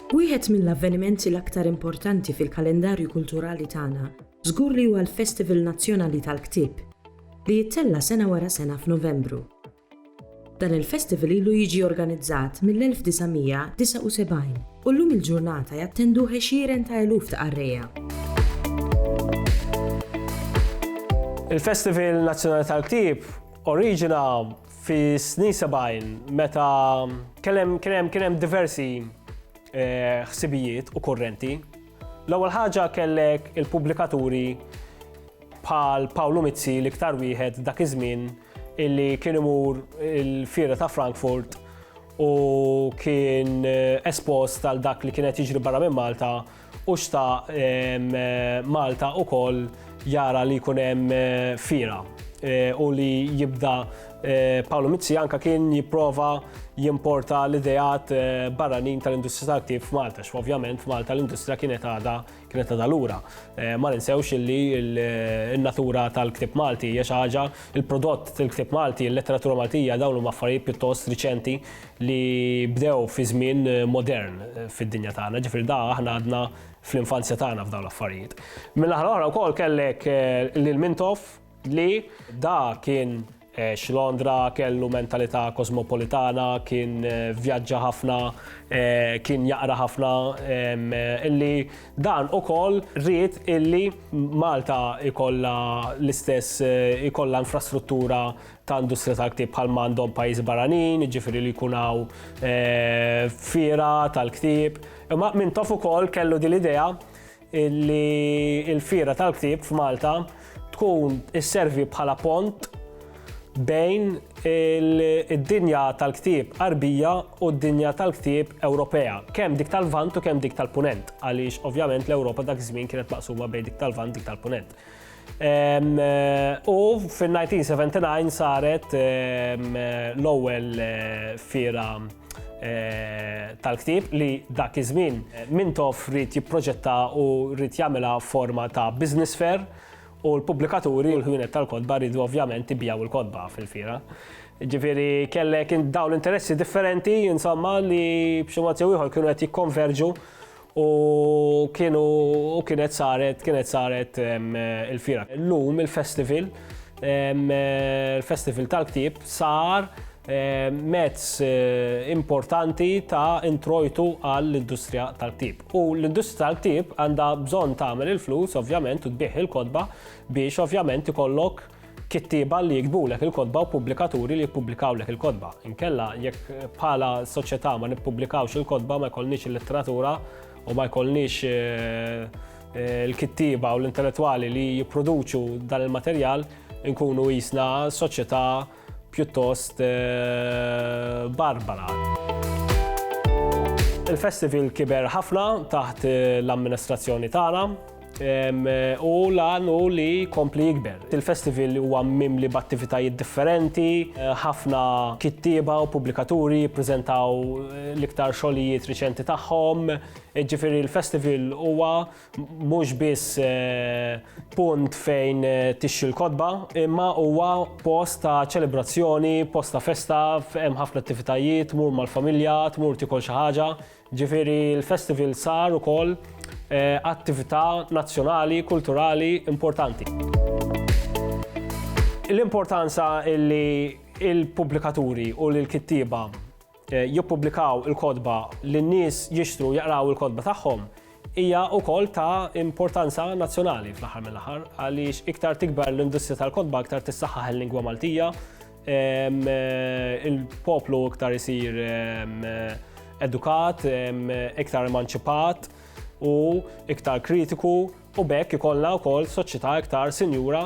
Wieħed mill-avvenimenti l-aktar importanti fil-kalendarju kulturali tagħna żgur li huwa l-Festival Nazzjonali tal-Ktieb, li jittella' sena wara sena f'Novembru. Dan il-festival ilu jiġi organizzat mill-1979 u llum il-ġurnata jattenduh għexieren ta' eluf ta' qarrejja. Il-Festival Nazzjonali tal-Ktieb oriġina fi snin 70 meta kien hemm diversi eh, ħsibijiet u korrenti L-ewwel ħaġa kellek il-pubblikaturi bħal Pawlu Mizzi l-iktar wieħed dak iż-żmien illi kien imur il-fiera ta' Frankfurt u kien eh, espost għal dak li kienet jiġri barra minn Malta u xta eh, Malta u koll jara li kunem eh, fira u li jibda Eh, Paolo Mizzi anka kien jipprova jimporta l-ideat eh, barranin tal-industrija tal-ktib f'Malta, x'ovvjament f'Malta l-industrija kienet għada kienet għada lura. Eh, ma ninsewx illi l-natura tal-ktib Malti hija xi ħaġa il-prodott tal-ktib Malti, il-letteratura Maltija dawn huma affarijiet pjuttost riċenti li bdew fi żmien modern fid-dinja tagħna, ġifier da aħna għadna fl-infanzja tagħna f'dawn l-affarijiet. Mill-aħħar oħra wkoll kellek lil Mintoff Li da kien eh, x'Londra kellu mentalità kosmopolitana, kien eh, vjaġġa ħafna, eh, kien jaqra ħafna, illi dan ukoll rrit illi Malta ikolla l-istess ikolla infrastruttura ta' industrija ta' ktib bħal mandom pajjiż baranin, ġifiri li kunaw eh, fira tal-ktib. Imma minn taf ukoll kellu din l-idea li l-fira tal-ktieb f'Malta tkun isservi bħala pont bejn id-dinja tal-ktieb Arbija u d-dinja tal-ktieb Ewropea, kemm dik tal-Vant u kemm dik tal-Punent, għaliex ovvjament l-Ewropa dak iż-żmien kienet maqsuma bejn dik tal-Vant dik tal-Punent. U fin-1979 saret l-ewwel fiera tal-ktieb li dak iż-żmien Mintoff ried jipproġetta u ried jagħmilha forma ta' business fair u l-pubblikaturi u l-ħwienet tal-kotba riedu ovvjament ibigħu l-kotba fil-fiera. Ġifieri kellek dawn l-interessi differenti, insomma, li b'xi mod jew ieħor kienu qed jikkonverġu U kienu u kienet saret kienet saret il-fira. Llum il-festival il-festival tal-ktieb sar mezz eh, importanti ta' introjtu għall-industrija tal-ktib. U l-industrija tal-ktib għandha bżonn tagħmel il-flus, ovvjament, u tbieħ il-kodba biex ovvjament ikollok kittieba li jiktbulek il-kotba u pubblikaturi li jippublikawlek il-kotba. Inkella jekk bħala soċjetà ma nippubblikawx il-kotba ma jkollniex il-letteratura u ma jkollniex eh, eh, il-kittieba u l-intellettwali li jipproduċu dan il-materjal nkunu jisna soċjetà pjuttost eh, barbara. Il-festival kiber ħafna taħt l-amministrazzjoni tagħna U lan u li kompli jikber. Il-festival huwa mimli b'attivitajiet differenti, ħafna kittieba u pubblikaturi jippreżentaw l-iktar xogħlijiet riċenti tagħhom. Ġifieri l-festival huwa mhux biss punt fejn tixxi l-kotba, imma huwa post ta' ċelebrazzjoni, post ta' festa, hemm ħafna attivitajiet, tmur mal-familja, tmur tiekol xi ħaġa, Ġifieri l-festival sar ukoll attività nazzjonali kulturali importanti. L-importanza li l-pubblikaturi u l-kittieba jippubblikaw il-kotba li n-nies jixtru jaqraw il-kotba tagħhom Hija wkoll ta' importanza nazzjonali fl-aħħar mill-aħħar għaliex iktar tikber l-industrija tal-kotba iktar tissaħħaħ il-lingwa Maltija, il-poplu iktar isir edukat, iktar emanċipat u iktar kritiku u b'hekk ikollna wkoll soċjetà iktar sinjura.